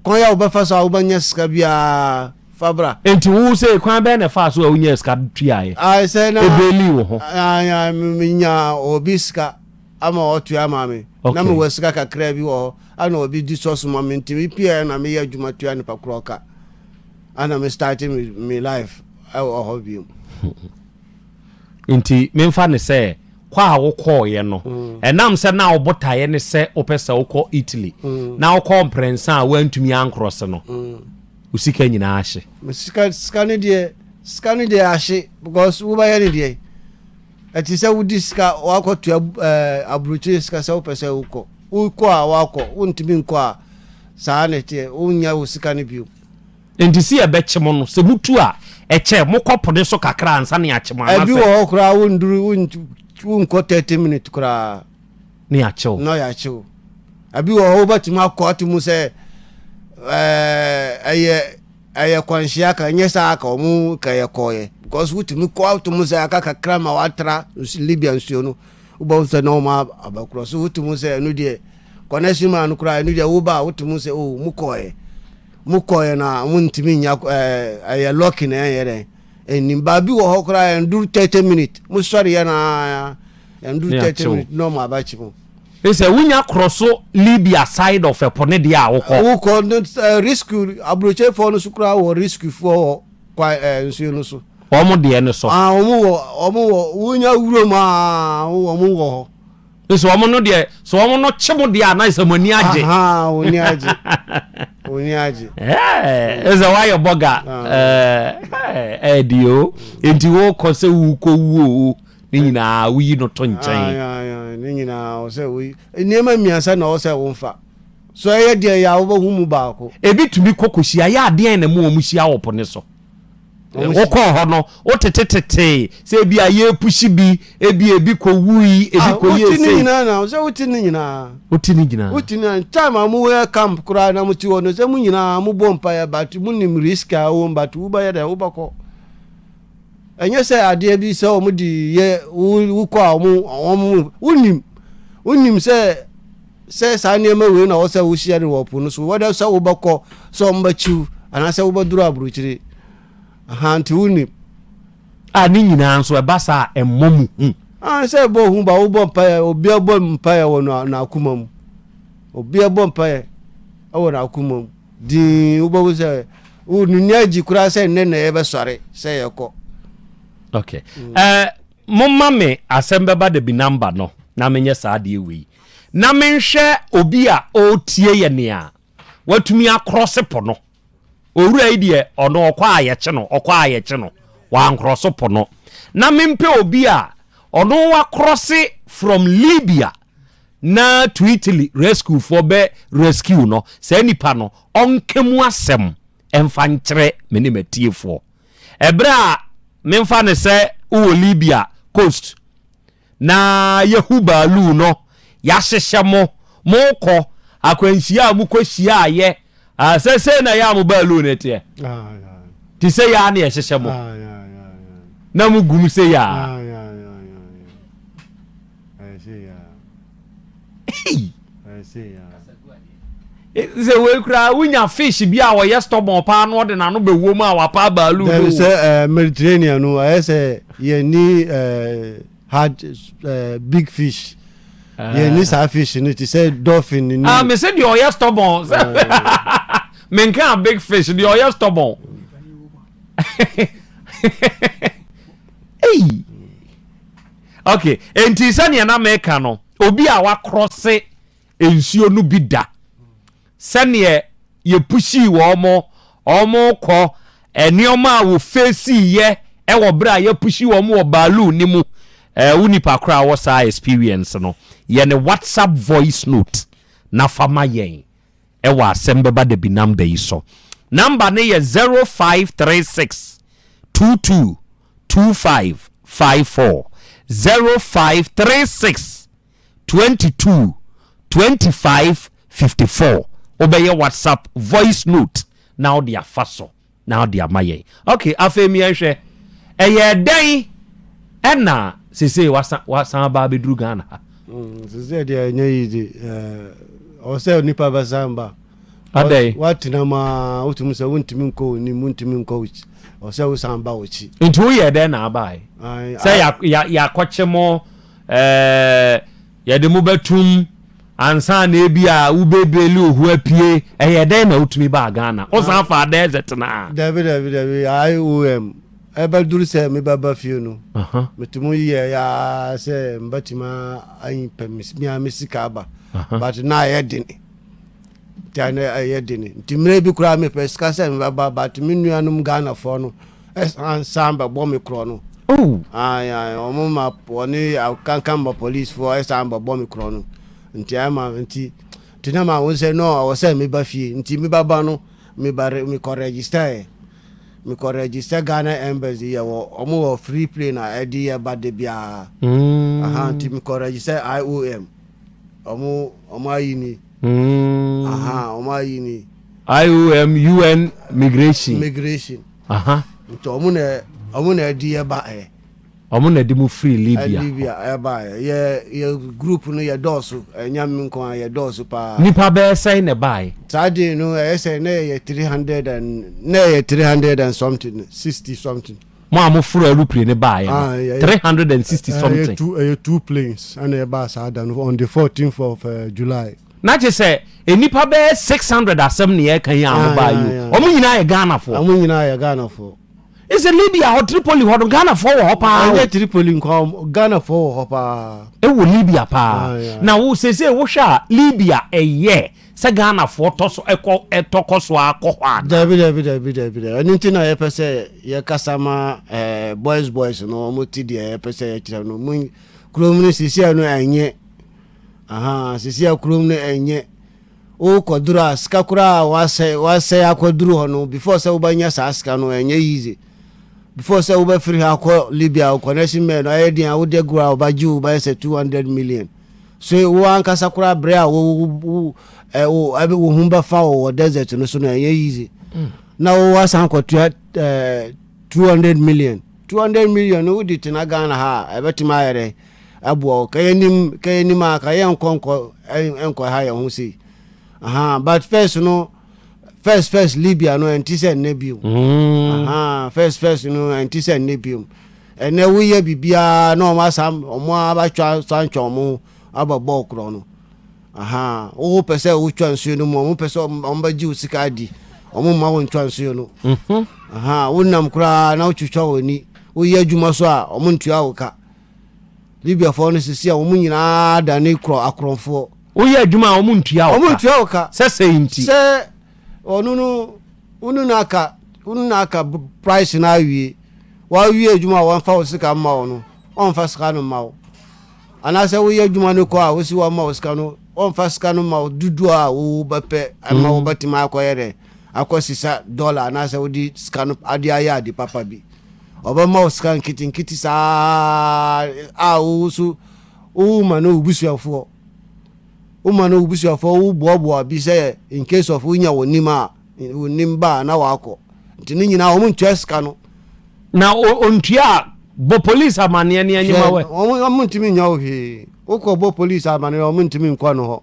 Kwan a wobɛfa so a wobɛnya sika biara fa bra. Enti wo sɛ kwan bɛn na ɛfaa so a wonyaa sika tuaeɛ? Ae sɛ na Ɛbɛlii wo ho? ae, menya obi sika ama ɔtua maa me. Na Okay. mewɔ sika kakraa bi wɔ hɔ. Ana obi di sɔso ma me nti mepieɛ na meyɛ adwuma tua nipa korɔ ka. Ana me starte me me life ɛwɔ hɔ biom. Enti memfa no sɛ kɔ a wokɔeɛ no, ɛnam sɛ na wo botaeɛ ne sɛ wopɛ sɛ wokɔ Italy na wokɔɔ mprɛnsa a woantumi ankrɔse no, wo sika nyinaa ahye. Me sika sika no deɛ sika no deɛ ahye because wobɛyɛ no deɛ ɛte sɛ wodi sika wakɔto ɛɛ aburokyire sika sɛ wopɛ sɛ wokɔ wokɔ a wakɔ wontumi nkɔ a saa na ɛteɛ wonnya wo sika no bio. Enti se yɛbɛkye mo no, sɛ motu a, ɛkyɛ, mokɔ po no so kakra ansa na yɛakye mo, Ɛbi wɔ anasɛ. hɔ koraa wonduru, wont, wonkɔ thirty minutes koraa Na yɛakye wo. na yɛakye wo. Ɛbi wɔ hɔ wobɛtumi akɔ ato mu sɛ ɛɛ, ɛyɛ, ɛyɛ kwanhyia aka, ɛnyɛ saa aka, ɔmo ka yɛ kɔɔeɛ. Because wotumi kɔ ato mu sɛ aka kakra ma watra nsu, Libya nsuo no, wobɛhu sɛ na ɔmo ab- aba kuro so, woto mu sɛ ɛno deɛ, connection man no koraa, ɛno deɛ woba a woto mu sɛ oh, mo kɔɔeɛ. Mo kɔɛ na mo ntumi nya ɛɛ ɛyɛ lɔki na ɛnyɛ dɛn ɛnim baabi wɔ hɔ koraa ɛnduru thirty minute mo sɔre yɛ na ɛnduru thirty minute na ɔmo abɛkye mo. Sɛ wonya korɔ so Libya side of ɛpo ne deɛ a wokɔ. Wokɔ no ɛɛ risiki aburokyefoɔ no so koraa wɔ risikifoɔ wɔ kwa ɛɛ nsuo no so. Ɔmo deɛ no so. Ah ɔmo wɔ ɔmo wɔ wonya wuram aa ɔmo wɔ hɔ. Nso wɔn no deɛ so wɔn no kye mo deɛ a na ɛsɛ mo ani agye. Ahaa wɔn ani agye wɔn ani agye. Ɛɛ ɛsɛ wɔayɛ bɔga ɛɛ ɛɛ di o nti wɔkɔ sɛ wɔkɔ wuo o ne nyinaa woyi no to nkyɛn. Ne nyinaa ɔsɛ woyi nneɛma mmiɛnsa na ɔsɛ wɔn fa so ɛyɛ deɛ yɛ a wɔbɛhu mu baako. Ebi tumi kɔ kɔhyia yɛ adeɛ na mu wɔn hyia wɔ po ne so. wokɔɔ hɔ no wotetetetee sɛ ebi a yɛrepusi bi ebi ebi kɔ wui ebi ah, kɔ yie sei. wote ne nyinaa na sɛ wote ne nyinaa. wote ne nyinaa. wote ne nyinaa time a mo wɔ camp koraa na mo ti hɔ no sɛ mo nyinaa mo bɔ mpa yɛ but mo nim risk a wɔn but wobɛyɛ dɛ wobɛkɔ. ɛnyɛ sɛ adeɛ bi sɛ wɔn de yɛ wokɔ a wɔn wɔn wonim wonim sɛ. Sɛ saa nneɛma wei na ɔwɔ sɛ wohyia no wɔ po no so, wɛdɛ sɛ wobɛkɔ, sɛ wɔbɛkyiw, anaasɛ wobɛduru aburokyire. Aha, nti wonni. A ne nyinaa nso, ɛba saa a, ɛmmɔ mo hu. A sɛ ɛbɔ hu ba, wobɔ mpaeɛ, obiara bɔ mpaeɛ wɔ n'akoma mu. Obiara bɔ mpaeɛ wɔ n'akoma mu. Dinn, wobɛhu sɛ wonni agyi koraa sɛ nnɛ na yɛbɛsɔre sɛ yɛkɔ. Okay. Mm. Uh, momma me asɛm bɛba da bi namba no na menyɛ saa adeɛ wei na menhwɛ obi a ɔretie yɛ nea watumi akorɔse po no. Owura yi deɛ ɔno ɔkɔ a yɛkye no, ɔkɔ a yɛkye no, wankorɔso po no. Na mempɛ obi a ɔno wakorɔse from Libya na to Italy rescuefoɔ bɛ rescue no. Saa nipa no, ɔnka mu asɛm mfa nkyerɛ me ne m'atiefoɔ. Ɛberɛ a memfa no sɛ wowɔ Libya coast, Na yɛahu baalu no, yɛahyehyɛ mo, morekɔ akwanhyia a mokɔhyia a yɛ a sɛ sei na yɛ a mo baalu no teɛ? Te sei ara na yɛhyehyɛ mo na mogum sei ara. sɛ wei koraa wonya fish bi a wɔyɛ stɔbɔn paa no ɔde n'ano bɛwɔ mu a wapa baalu no sɛ eh, mediterranean no ɛyɛ sɛ yɛni eh, hard eh, big fish ah. yɛni saa fish no te sɛ dolphin ni ah, me sɛ deɛ ɔyɛ stɔbɔn sɛ menka big fish deɛ ɔyɛ stɔbɔn ei Ok, enti sɛdeɛ na meka no, obi a wakrɔse nsuo no bi da, sɛdeɛ yɛpushii wɔn, wɔkɔ, nneɛma a wɔfeesiiɛ wɔ berɛ a yɛpushi wɔn wɔ baaluu no mu, eh, wo nipa koro a ɔwɔ saa experience no, yɛ ne WhatsApp voice note na fa ma yɛn wɔ Asɛm Bɛba Dabi number yi so. Number no yɛ 0536 22 two five five four zero five three six twenty two twenty five fifty four wobɛyɛ whatsapp voice note na wode afa so na wode ama yɛn ok afei miɛnhwɛ ɛyɛ dɛn ɛna sesei wasan aba abɛduru ghana ha mm, sesei deɛ ɛnyɛ yi de ɔsɛ nipa bɛsan ba Adɛn? Woatena mu ara, wotumi sɛ wontumi nkɔ w'anim, wontumi nkɔ w'akyi. Ɛwɔ sɛ wosan ba w'akyi. Nti woyɛɛ dɛn na abae? Sɛ yɛakɔkye mo, yɛde mo bɛtom ansa na ebia wobɛbeli wo ho apue. Ɛyɛɛ dɛn na wotumi baa Ghana? Wosan faa dɛɛsɛ tenaa? Dabi, dabi, dabi. IOM, ɛbɛduru sɛ mebɛba fie no, metumi yɛɛ ara sɛ mɛtumi anyi pɛ me ara me sika aba. But na ɛyɛ den. Taa na ɛyɛ den nti mmerɛ bi koraa mepɛ sika sɛ mebɛba but me nuanom Ghanafoɔ no san san bɛbɔ me korɔ no. Oh. Ayi ayi wɔn ma wɔne akankan ma policefoɔ ɛsan bɛbɔ me korɔ no nti ayɛ ma nti nti na ma wɔn sɛ no ɔwɔ sɛ meba fie nti meba ba no meba mekɔ register yɛ mekɔ register Ghana embassy yɛ wɔ wɔn wɔ free plane a ɛde yɛ ba de biara. Mm. Aha nti mekɔ register IOM. Ɔmo ɔmo ayi ni. Mm. Aha ɔmo ayi ni. IOM UN migration. Migration. Aha. Nti ɔmo na ɔmo na ɛdi yɛ ba ɛ. Ɔmo na ɛdi mo firi Libya. Libya ɛba ɛ yɛ yɛ group no yɛ dɔɔso ɛnya mi nko a yɛ dɔɔso paa. Nipa bɛyɛ sɛn na ɛba ɛ. Saa den no ɛyɛ sɛ na yɛ three hundred and na yɛ three hundred and something sixty something. mo a mo foro aeroplane ne baa yɛ no ah, three hundred and sixty something. ɛyɛ two planes ɛna ɛbaa saa da no on the fourteenth of uh, july. na kye sɛ nnipa bɛyɛ six hundred asɛm ne yɛka yi a mo ah, baa yi o wɔn nyinaa yɛ ghanafoɔ. wɔn nyinaa yɛ ghanafoɔ. ɛsɛ libya hɔ tripoli hɔ no ghanafoɔ wɔ hɔ paa. ɛnyɛ tripoli nkɔ ghanafoɔ wɔ hɔ paa. ɛwɔ libya paa na wo sese wohwɛ a libya ɛyɛ. Sɛ Ghanafoɔ tɔ so kɔ tɔ kɔ so ara kɔ hɔ anaa? Dabi dabi dabi dabi dabi ɛno nti na yɛpɛ sɛ yɛkasa ma eh, boys boys no wɔn ti deɛ yɛpɛ sɛ yɛkyerɛ no mo kurom no sisia no ɛnyɛ aha sisia kurom no ɛnyɛ wokɔduru a sika koraa a wasɛ wasɛ akɔduru hɔ no before sɛ wobɛnya saa sika no ɛnyɛ easy before sɛ wobɛfiri ha akɔ Libya wo connection man no ayɛ deɛ a wode agorɔ a wɔbɛgye wo bɛyɛ sɛ 200 million So wo ankasa koraa bere a wo wo wo ɛ wo ɛbɛ wo ho bɛfa wo wɔ desert no so no ɛnyɛ easy mm. na wo asan kɔtua ɛɛ two hundred million two hundred million no wodi tena Ghana ha a ɛbɛtumi ayɛ dɛ ɛboa wo kɛyɛ nim kɛyɛ nim a kɛyɛ nkɔ nkɔ ɛnkɔ ha yɛn ho sei aha but first no. first first libya no ɛnte sɛ nnɛ biom mm. first first no ɛnte sɛ nnɛ biom ɛnɛ woyɛ biribiaa na ɔmo asa ɔmo abatwa santwa ɔmo aba bɔɔl korɔ no wo pɛ sɛ wotwa nsuo no mu ɔmo pɛ sɛ ɔmo bɛgye wo sika adi ɔmo mma wo ntwa nsuo no mhm. wonam koraa na wotwitwa w'ani woyɛ adwuma so a ɔmo ntua wo ka Libiafoɔ no sisi a wɔn nyinaa dane korɔ akorɔmfoɔ. Woyɛ adwuma a wɔn ntua wo ka. Wɔn ntua wo ka. Sɛ sɛi nti. Sɛ ɔno no wonu na aka wonu na aka price na awie wawie adwuma a wɔmfa wo sika mma wo no ɔmfa sika no mma wo anaasɛ woyɛ adwuma no kɔ a wosi wɔn mma wo sika no ɔmfa sika no mma wo dudu a wowo bɛpɛ ɛma wo mm. bɛtumi akɔyɛ dɛ akɔ sisa dɔla anaasɛ wode sika no ade ayɛ ade papa bi. Ɔbɛma wo sika nketenkete saa a wo nso woma no wo busuafoɔ. Woma no wo busuafoɔ, woboaboa bi sɛ in case of wonya wɔn nim a, wɔn nim ba a na wɔakɔ. Nti ne nyinaa wɔn ntua sika no. Na ɔntua a, bɔ police amaneɛ ne anyima wɛ. Hwɛ, wɔn ntumi nyɛ wo hwee. Wokɔ bɔ police amaneɛ a, wɔn ntumi nkɔ no hɔ.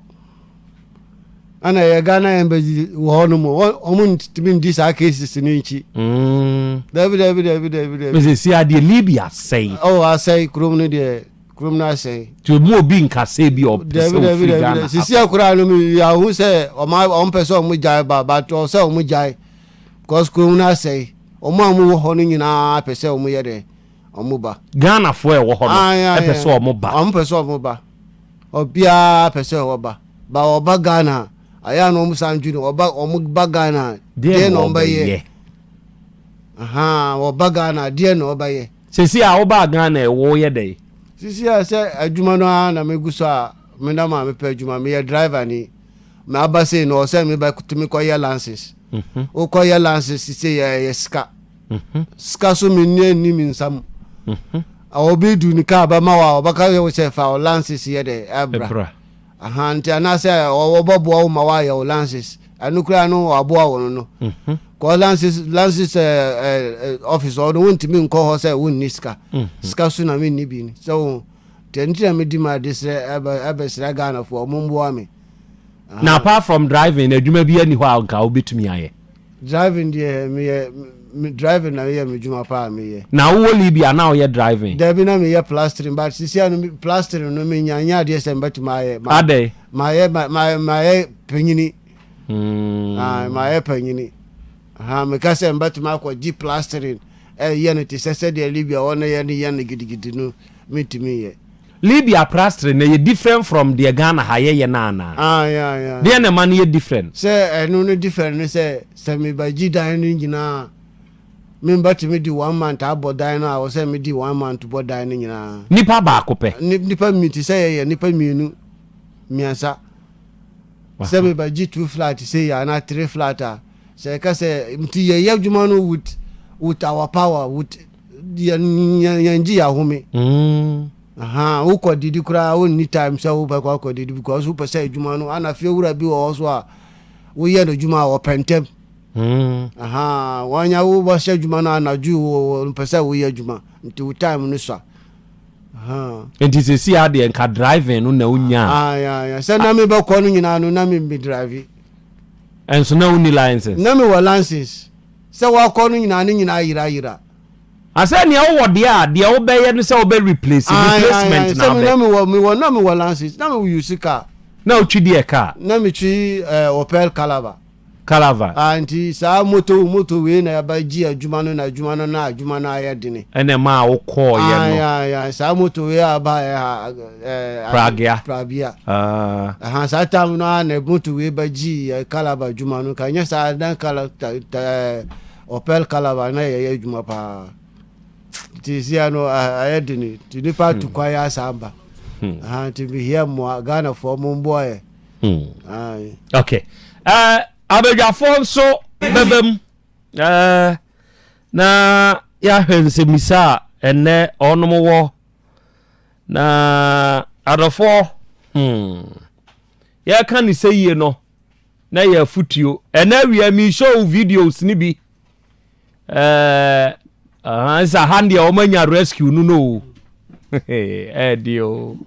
ana ɛyɛ ghana embassy wɔ hɔ nom wɔn ntumi ndi saa cases no nkyi. Mm. dabi dabi dabi dabi dabi. mese si adeɛ libya asɛe. ɔwɔ oh, asɛe kurom no deɛ kurom no asɛe. nti emu obi nkasɛ bi ɔpɛ sɛ ofiri ghana. sisi akora no mi ahu sɛ ɔmo ɔmo pɛ sɛ ɔmo gyae ba ba tɔ sɛ ɔmo gyae because kurom no asɛe ɔmo a ɔmo wɔ hɔ no nyinaa pɛ sɛ ɔmo yɛ dɛ ɔmo ba. ghana foɔ ɛwɔ hɔ no ɛpɛ sɛ ɔmo ba. ɔmo pɛ sɛ ɔmo ba. Obia pɛ sɛ ɔwɔ ba. Ba wɔba Ghana a, ayɛ a na wɔn san dwene wɔba wɔn ba Ghana a, deɛ na wɔn bɛyɛ. Ahaa, wɔba Ghana a, deɛ na wɔn bɛyɛ. Sisi a wobaa Ghana yi, woyɛ dɛn? Sisi a sɛ adwuma no ara na megu so a, me nam a mepɛ adwuma, meyɛ driver ni. Mɛ aba sei no, ɔsɛ mebɛtumi kɔyɛ lances. Wokɔyɛ lances sei a, ɛyɛ sika. Sika so me nua nni me nsa mu. Obi du ne kaa bɛma wo a, ɔbɛka wo sɛ fa wo lances yɛ dɛ ɛbra. Aha nti anaasɛ ɔbɛboa wo ma woayɛ wo lances. Ɛno koraa no waboa wo no no. Kɔ lances lances office hɔ no wontumi nkɔ hɔ sɛ wonni sika. Sika so na menni bi no. Sɛ wo nti na medi m'adesrɛ ɛbɛsrɛ Ghanafoɔ wɔmmoa me. na apart from driving adwuma bi ani hɔ a nka wobɛtumi ayɛ driving deɛ meyɛ driving na meyɛ me dwuma paa meyɛ na wowɔ libia na woyɛ driving daabi na meyɛ plastering but sisia no plastering no menya nyɛ adeɛ sɛ mebɛtumi ayɛ adɛ mayɛ mayɛ panyini hmm. mayɛ panyini meka sɛ mebɛtumi akɔgye plastering ɛyɛ no te sɛ sɛdeɛ libia wɔno yɛ no yɛ no gidigidi no mentumi yɛ Libya prastere no ɛyɛ different from deɛ Ghana ha yɛ yɛ no anaa? Ah yeah yeah. Deɛn na ɛma no yɛ different? Sɛ ɛno no different ne sɛ sɛ me ba gyi dan no nyinaa me mba tumi di one month abɔ dan no a wɔ sɛ me di one month bɔ dan no nyinaa. Nipa baako pɛ. Nipa mmi te sɛ yɛ yɛ nipa mmienu mmiɛnsa sɛ me ba gyi two flat sɛ yɛ anaa three flat a sɛ ɛka sɛ nti yɛ yɛ adwuma no with with our power with yɛn gye yɛahome mm. wokɔ didi koraa wonni time sɛ wopɛ kɔ akɔ didi because wopɛ sɛ adwuma no ana fie wura bi wɔ hɔ so a woyɛ no adwuma a wɔpɛ ntɛm mm. wanya wobɛhyɛ adwuma no anadwo mpɛ sɛ woyɛ adwuma nti wo time no sua nti sɛsi adeɛ nka driving no na wonya ah, sɛ na mebɛkɔ no nyinaa no na memmedrive ɛnso na wonni license na mewɔ license Sɛ woakɔ no nyinaa ne nyinaa yera yera. Na sɛ nea wowɔ deɛ a deɛ wobɛyɛ ne sɛ wobɛ replace, replacement na abɛ. Sɛ mewɔ mewɔ na mewɔ lances na me use car. Na wotwi deɛ car? Na me twi eh, Opel Calava. Calava. Ah nti saa moto moto wei na yaba gye adwuma no na adwuma no na adwuma no ayɛ dene. Ɛna ɛmaa wokɔɔyɛ no. Ae ae ae saa moto wei a ɛbaeɛ ha. pragea pragea aha saa tam no a na motorway ba gyii eh, calabar adwuma no ka nyɛ saa na kala ɔpɛl eh, calabar na yɛyɛ adwuma paa nti sia no ah, ayɛ dene nti nipa hmm. to kwan yɛ asaa ba hmm. aha nti mehia mmoa ghanafoɔ mo mboa yɛ hmm. ok eh, abadwafoɔ nso bɛbɛ mu na yɛahwɛ nsɛmmisa a ɛnnɛ ɔnom wɔ Na adɔfoɔ, hmm, yɛreka ne sɛ yie no na yɛ afutuo. Ɛnɛ awia mi show videos ne bi. Ɛɛ, aha, nsa ha deɛ wɔn anya rescue no no o. Ɛɛdi o.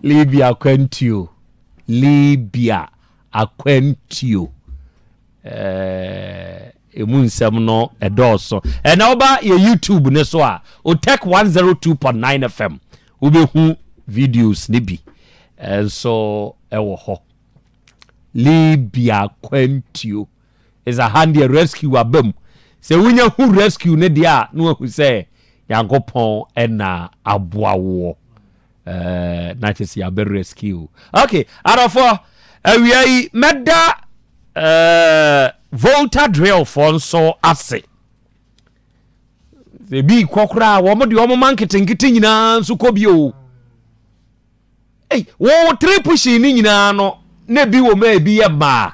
Libya akwantuo. Libya akwantuo. ɛmu nsɛm no ɛdɔɔso ɛna woba yɛ youtube ne so a otech 102.9 fm wobɛhu videos ne bi nso ɛwɔ hɔ libya kwantuo is a hand deɛ rescue aba mu sɛ wonya hu rescue ne deɛ a na wahu sɛ nyankopɔn ɛna aboa woɔ Eh, na kyɛ sɛ yɛabɛ rescue okay adɔfoɔ awia yi mɛda eh, volta drillfoɔ nso ase ebi kɔ koraa wɔn deɛ wɔn ma nketenkete nyinaa nso kɔ bi o ei wɔn tiri pushi ne nyinaa no na ebi wɔ mu a ebi yɛ mmaa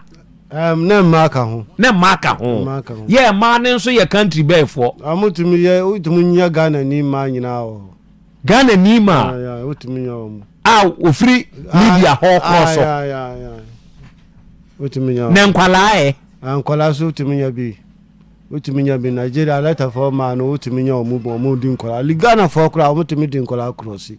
Um, na mmaa ka ho na mmaa ka ho Mmaa ka ho. yɛ mmaa no nso yɛ country bɛɛfoɔ wɔtumi yɛ wotumi nya ghana ni mmaa nyinaa wɔ hɔ Ghana ni ma a ofiri media hɔ kɔɔ so na nkwalaa ɛ. Nkwalaa so wotumi nya bi wotumi nya bi Nigeria lɛtafɔ maa no wotumi nya wɔn bɔ wɔn di nkwalaa li Ghana fɔ koraa wɔn tumi di nkwalaa korɔ si.